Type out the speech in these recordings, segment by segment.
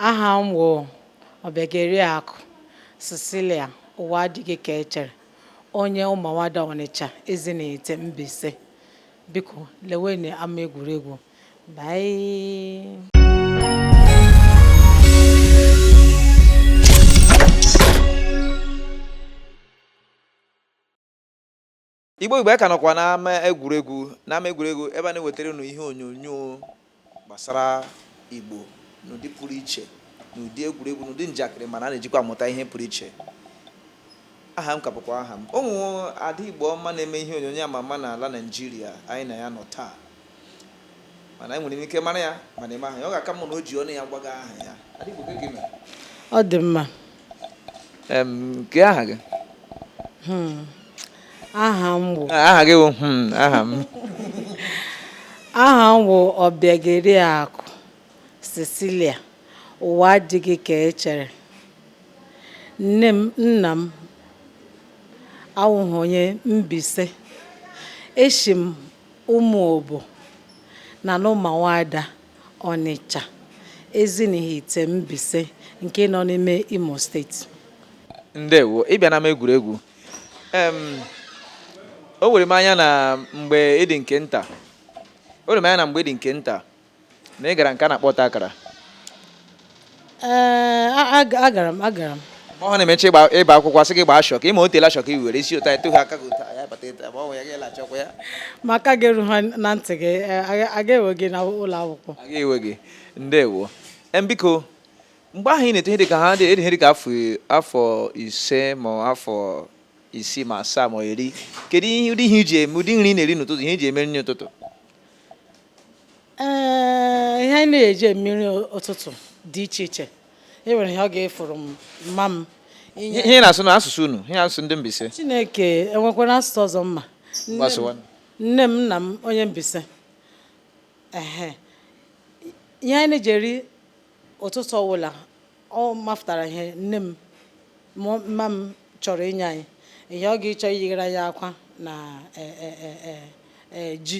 aha m bụ ọbịageriakụ Cecilia ụwa adịghị ka echere onye ụmụawada Ọnịcha Ezinihite Mbaise biko lewenụ ama egwuregwu bye Igbo Igbo anyị ka nọkwa n'ama egwuregwu n'ama egwuregwu ebe a na-ewetara unu ihe onyonyo gbasara Igbo n'ụdị pụrụ iche n'ụdị egwuregwu n'ụdị njakịrị mana a na-ejikwa amụta ihe pụrụ iche aha m ka bụkwa aha m o nwere ada Igbo ọma na-eme ihe onyonyo ama ama n'ala Naịjirịa anyị na ya nọ taa mana enwere m ike mara ya mana ịma aha ya ọ ga-aka mma na o ji ọnụ ya gwa anyị aha ya Ada Igbo, kee ka ị mere? ọ dị mma Em, kee aha gị aha m bụ Ah, aha gị bụ hmm, aha m aha m wụ Ọbịageriakụ Cecilia ụwa adịghị ka e chere nne m nna m awụghị onye Mbaise eshi m Ụmụobo na n'Ụmụawada, Ọnịcha, Ezinihite Mbaise nke nọ n'ime Imo steeti. Ndewo. Ị bịa n'ama egwuregwu, em, o were m anya na mgbe ị dị nke nta, o were m anya na mgbe ị dị nke nta, na ị gara nke a na-akpọ ọta akara ee agara m agara m mgbe ahụ na-emechi ịba akwụkwọ a sị gị gbaa shọk ịma otela shọk i were isi ụta eto ha aka gị ụta ya bata ịta ma ọ bụ ya ga-ele achọkwa ya ma aka gị eruhụ na ntị gị aga ewe gị na ụlọ akwụkwọ aga ewe gị ndewo biko mgbe ahụ ị na-eto ihe dị ka ha dị ihe dị ka afọ ise ma afọ isii ma asaa ma iri kedu ihe ụdị ihe i ji eme ụdị nri ị na-eri n'ụtụtụ ihe i ji eme nri ụtụtụ ee ihe anyị na-eji eme nri ụtụtụ dị iche iche e nwere ihe ọ ga-efuru m mma m ihe ị na-asụ n'asụsụ unu ihe asụsụ ndị Mbaise Chineke enwekwara asụsụ ọzọ m ma nne m nna m onye Mbaise ehe ihe anyị na-eji eri ụtụtụ ọwụla ọ mafụtara ihe nne m mma m chọrọ inye anyị ihe ọ ga-ịchọ iyighara ya akwa na e, e, e, ji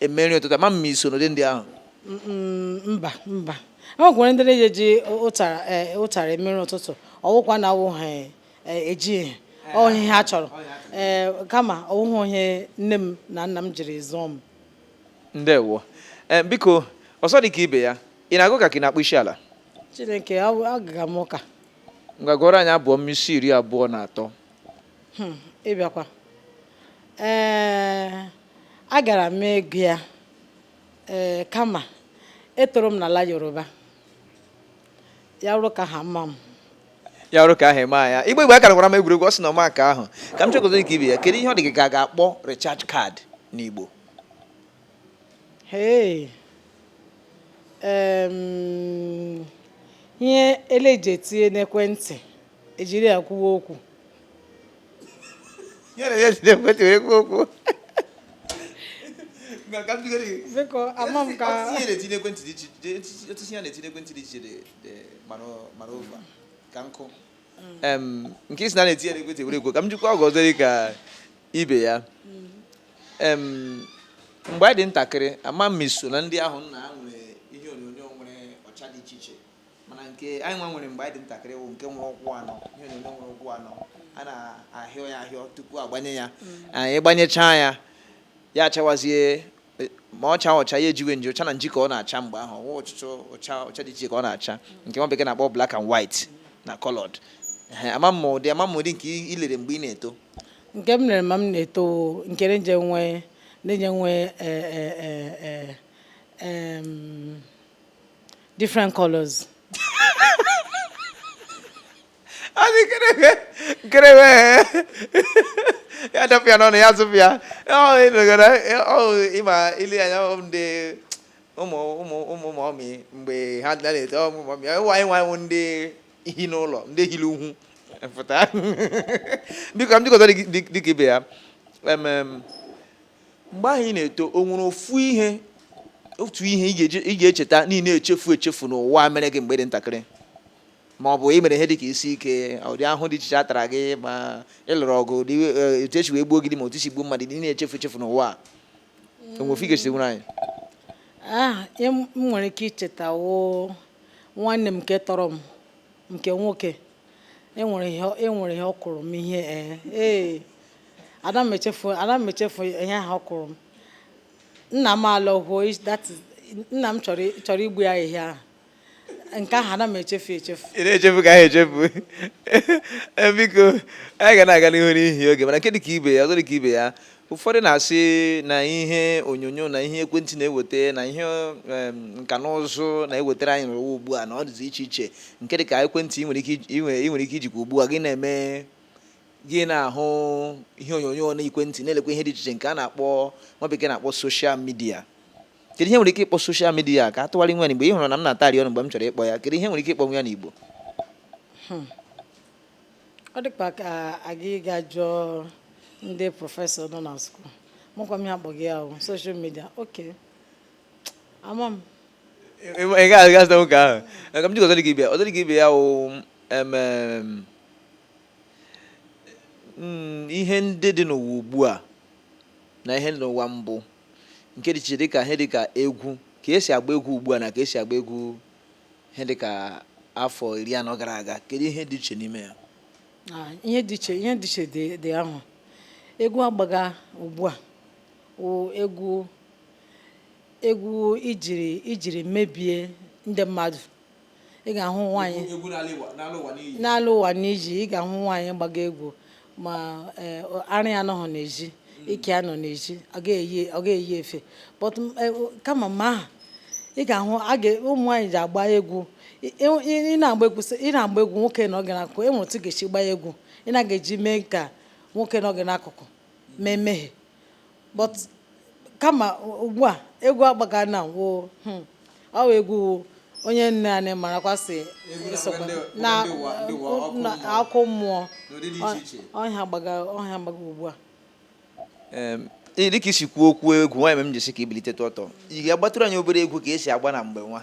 eme nri ụtụtụ ama m ma i so n'ụdị ndị ahụ Mm, mm, mba mba e nwekwara ndị na-eji eji ụtara eh, ụtara eme nri ụtụtụ ọ wụkwa na awụ ha eh, eji ihe ọ ihe ha chọrọ ee kama ọ wụhụ ihe nne m na nna m jiri zụọ m ndewo Em, biko ọsọ dị ka ibe ya ị na-aga ụka ka ị na-akpọ isi ala chineke ọ- agaga m ụka ngwa gụọrọ anyị abụ ọma isi iri abụọ na atọ Hmm, ị bịakwa ee agara m ego ya ee kama etoro m n'ala yoruba ya wụrụ ka ha mma m ya wụrụ ka ahụ eme anya Igbo Igbo akara gwara m egwuregwu ọ sị na ọ ma nke ahụ ka m jụọ gị ọzọ dị ka ibe ya kedu ihe ọ dị gị ka a ga-akpọ recharge card n'Igbo Hey. Um, ihe eleji etinye n'ekwentị ejiri ya kwuwe okwu biko ama m ka ka nkụ nke ị sị na a na-etinye n'ekwentị were ekwu ka m jụkwa gị ọzọ dị ka ibe ya mgbe anyị dị ntakịrị ama m ị so na ndị ahụ nna ha nwere ihe onyonyo nwere ọcha dị iche iche mana nke anyị nwa nwere mgbe anyị dị ntakịrị wụ nke nwere ụkwụ anọ ihe onyonyo nwere ụkwụ anọ a na-ahịọ ya ahịọ tupu a gbanye ya anyị gbanyechaa ya ya achawazie e, ma ọ chaa ọcha ya ejiwe nji ọcha na nji ka ọ na-acha mgbe ahụ wụ ọchịchọ ọcha ọcha dị iche ka ọ na-acha nke nwa bekee na-akpọ black and white na colored ama m ụdị ama m ụdị nke i lere mgbe ị na-eto nke m lere ma m na-eto nkere nje nwee ndị nje nwee e, e, different colors ọ dị nkerewe nkerewe ya dọpụ ya n'ọnụ ya zụpụ ya ị ma ile anya ndị ụmụ ụmụ ụmụ mọmị mgbe ha dị na-eto ụmụ mọmị ụwa anyị nwanwụ ndị hi n'ụlọ ndị hiri ugwu pụta biko m dịkọta dịka ibe ya mgbe ahụ ị na-eto o nwere ofu ihe otu ihe ị ga-eji- ị ga-echeta na ị na-echefu echefu n'ụwa mere gị mgbe ị dị ntakịrị ma ọ bụ ị mere ihe dị ka isi ike ụdị ahụhụ dị iche iche a tara gị ma ị lụrụ ọgụ ụdị eh, etu e si wee gbuo gị ilu ma otu i si gbuo mmadụ ị na-echefu echefu n'ụwa a. o nwere ofu ị ga-echetanwuru anyị Ah, ihe m m nwere ike icheta wụ nwanne m nke tọrọ m nke nwoke enwere ihe enwere ihe ọ kụrụ m ihe ee ee ada m echefu ada m echefu ihe ahụ ọ kụrụ m nna m alọghuo is- that is- nna m chọrọ i- chọrọ igbu ya ehihie ahụ nke ahụ ada m echefu echefu ị na-echefu ka anyị echefu Eh, biko anyị ga na-aga n'ihu n'ihi oge mana nke dị ka ibe ya ọzọ dị ka ibe ya ụfọdụ na-asị na ihe onyonyo na ihe ekwentị na-eweta na ihe nka na ụzụ na-ewetara anyị n'ụwa ugbu a na ọ dịzi iche iche nke dị ka ekwentị ị nwere ike ijikwa ugbu a gị na-eme gị na-ahụ ihe onyonyo na ekwentị na-elekwa ihe dị iche iche nke a na-akpọ nwa bekee na-akpọ social media kedu ihe e nwere ike ịkpọ social media ka a tụgharị nwa n'Igbo ị hụrụ na m na-atarị ọnụ mgbe m chọrọ ịkpọ ya kedu ihe e nwere ike ịkpọ nwa ya n'Igbo hmm. ọ dịkwa ka aga ịga jụọ ndị professor nọ na school ma ọ kwanụ ihe akpọga ya wụ social media okay ama m ị gaghị aga zụta nwoke ahụ ka m jikọ ọzọ dị ka ibe ya ọzọ dị ka ibe ya wụ emem mm, ihe ndị dị n'ụwa ugbu a na ihe dị n'ụwa mbụ nke dị iche dịka ihe dịka egwu ka esi agba egwu ugbu a na ka esi agba egwu ihe dị ka afọ iri anọ gara aga kedu ihe dị iche n'ime ya ah, ihe dị iche ihe dị iche dị ahụ egwu agbaga ugbu a egwu egwu ejiri ejiri mebie ndị mmadụ ị ga-ahụ nwaanyị n'ala ụwa n'iji ị ga-ahụ nwaanyị gbaga egwu ma eh, ara anọghị n'ezi ike anọ n'ezi ọ ga-eyi efe but eh, kama ma aha ị ga-ahụ ụmụ nwaanyị ji agba egwu ị na-agba egwu nwoke nọ gị n'akụkụ enwere otu ị ga-esi gbaa egwu ị na-aga eji mee ka nwoke nọ gị n'akụkụ mee mmehie but kama ugbu a egwu agbaga na wo hmm, ọ wụ egwu onye nwe anyị marakwa si na ọkụ mmụọ ha gbaga ugbu a dịka i si kwuo okwu egwu nwanne m jisike ibilite ọtọ ị ga-agbatụrụ anyị obere egwu ka esi agba na mgbe nwa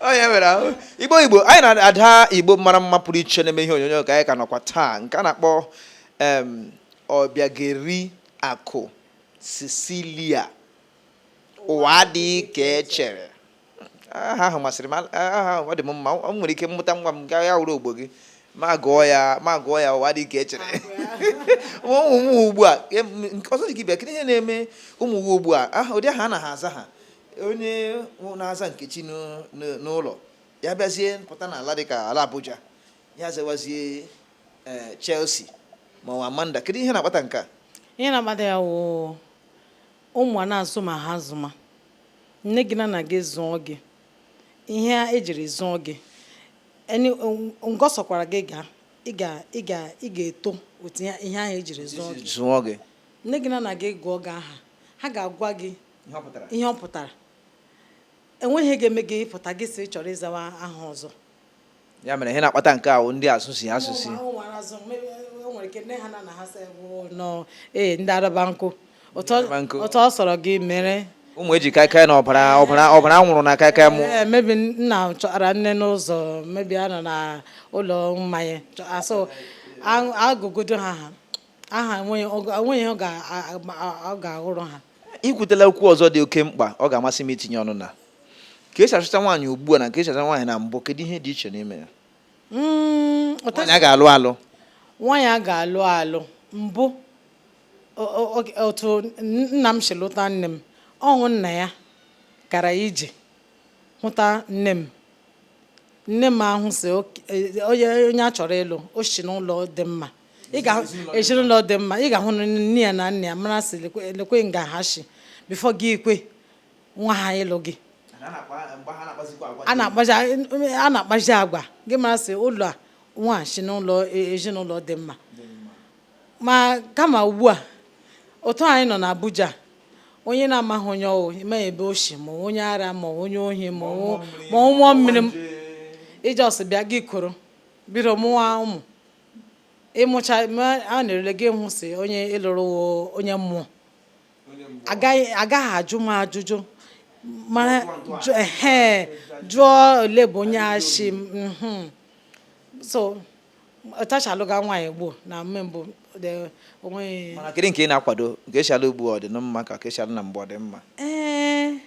onye mere ahụ igbo igbo anyị na ada igbo mara mma pụrụ iche na-eme ihe onyonyo ka anyị ka nọkwa taa nke a na-akpọ ọbịageri akụ cecilia ụwa adị ka echere aha ahụ masịrị m aha ahụ ọ dị m mma o nwere ike m mụta nwa m gaa ya wụrụ ogbo gị m agụọ ya m agụọ ya ụwa adị ka echere ụmụ ugbu a ọzọ dị ka ibe kedu ihe na-eme ụmụ ụwa ugbu a aha ụdị aha anaghị aza ha onye na-aza nkechi n'ụlọ ya bịazie pụta n'ala dị ka ala Abuja ya zawazie eh, Chelsea ma ọ Amanda kedu ihe na-akpata nke a ihe na-akpata ya wụ ụmụ a na-azụma ha azụma nne gị na nna gị zụọ gị ihe a ejiri zụọ gị nga ọ sọkwara gị gaa ị ga ị ga ị ga-eto otu ihe ahụ ejiri zụọ gị zụọ gị nne gị na nna gị gụọ gị aha ha ga-agwa gị ihe ọ pụtara enweghị ihe ga-eme gị pụta gị sị ị chọrọ ịzawa aha ọzọ ya mere ihe na-akpata nke ahụ ndị asụsi asụsi ee ndị arabankọ otu ọ sọrọ gị mere ụmụ eji kaikai na ọbara ọbara ọbara nwụrụ na kaikai mụ eh, maybe nna chọtara nne n'ụzọ maybe a nọ na ụlọ mmanya asụ agụgodo ha ha aha onweghị ihe ọ ga-awụrụ ha ikwutela okwu ọzọ dị oke mkpa ọ ga-amasị m itinye ọnụ na ka esi achọta nwaanyị ugbu a na ka esi achọta nwaanyị na mbụ kedu ihe dị iche n'ime ya mm, nwaanyị a ga-alụ alụ nwaanyị a ga-alụ alụ mbụ otu nna m si lụta nne m ọ wụ nna ya gara ije hụta nne m nne m ahụ sị e, onye a chọrọ ịlụ o si n'ụlọ dị mma ị ga ezinụlọ dị mma ị ga-ahụ na nne ya na nna ya mara sị lekwe nga ha si before gị ikwe nwa ha ịlụ gị a na-akpazi agwa gị mara sị ụlọ a nwa si n'ụlọ e, ezinụlọ dị mma ma kama ugbu a otu anyị nọ n'Abuja onye na-amaghị onye ọ wụ ma ebe o si ma onye ara ma onye ohi ma mmụọ mmiri ị just bịa gị kuru biri mụwa ụmụ ị mụcha a na-erele gị hụ sị onye ị lụrụ onye mmụọ agaghị ajụma ajụjụ mara jụọ olee ebe onye a shi mhm. so otu e shi alụga nwaanyị gboo na mme mbụ o nweghị mana kedu nke ị na-akwado nke esi alụ ugbu a ọ dị mma ka ka esi alụ na mbụ ọ dị mma ee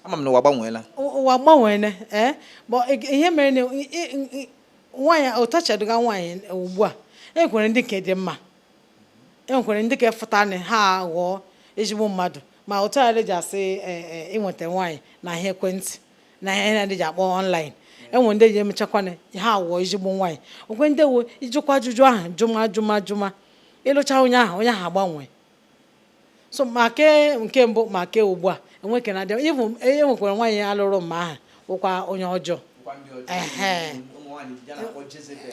ama m na ụwa gbanweela ụwa gbanweela ee ihe mere na nwaanyị otu e shi alụga nwaanyị ugbu a e nwekwere ndị nke dị mma e nwekwere ndị ka efụta na ha ghọọ ezigbo mmadụ ma otu a ji asị e, e, ịnweta nwaanyị na ihe ekwentị na ihe na ji akpọ online enwe ndị ji emechakwana ha ghọọ ezigbo nwaanyị nwekwe ndị wụ ị jụkwa ajụjụ ahụ jụma jụma jụma ị lụcha onye ahụ onye ahụ agbanwe so ma ke nke mbụ ma ke ugbu a enweke na adị ịbụ e nwekwara nwaanyị a lụrụ mme ahụ wụkwa onye ọjọọ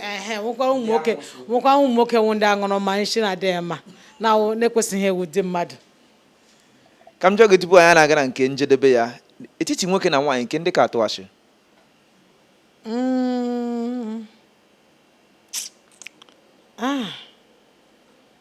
ehe nwekwa ụmụ nwoke nwekwa ụmụ nwoke wụ ndị aṅụrụma ishi na-adịghị mma na na-ekwesịghị ịwụ di mmadụ ka m jụọ gị tupu anyị na-aga na nke njedebe ya etiti nwoke na nwaanyị nke ndị ka atụ asị mm. ah.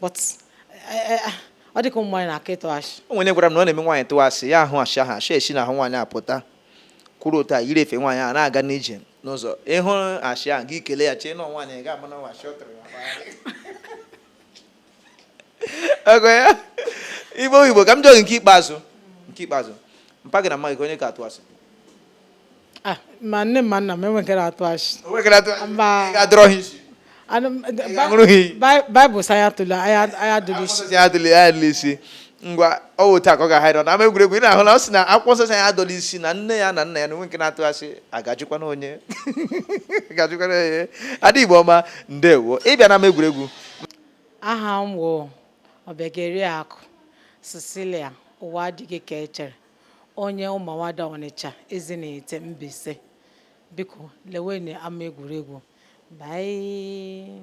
but eh, eh, ah, ọ dịka ụmụ nwaanyị na-aka ịtụ ashị o nwere onye gwara m na ọ na-eme nwaanyị tụwa asị ya ahụ asị ahụ asị esi n'ahụ nwaanyị apụta kwuru otu a yiri efe nwaanyị a na-aga n'ije n'ụzọ ị hụ asị ahụ gị kelee ya chee na nwaanyị gị ama na ọ wụ asị ọ tụrụ ya ọgọ ya igbo igbo ka m jụọ gị nke ikpeazụ nke ikpeazụ mpa gị na mma gị onye ka atụ asị Ah, ma nne m ma nna m enwe nke na-atụ asị enwe nke na-atụ asị mba adụrụ ha isi Baịbụl sị ya tụle aya dụrụ isi ya dụrụ ya dụrụ isi ngwa ọ wụ taa ka ọ ga-ahịrị na ama egwuregwu ị na-ahụ na ọ sị na akwụkwọ nsọ sị ya adụla isi na nne ya na nna ya na o nwe nke na-atụ asị a ga-ajụkwanụ onye a ga-ajụkwanụ onye ada Igbo ọma ndewo ịbịa na ama egwuregwu aha m wụ Ọbịageriakụ Cecilia ụwa adịghị ka echere onye Ụmụawada Ọnịcha Ezinihitte Mbaise biko lewenụ ama egwuregwu bye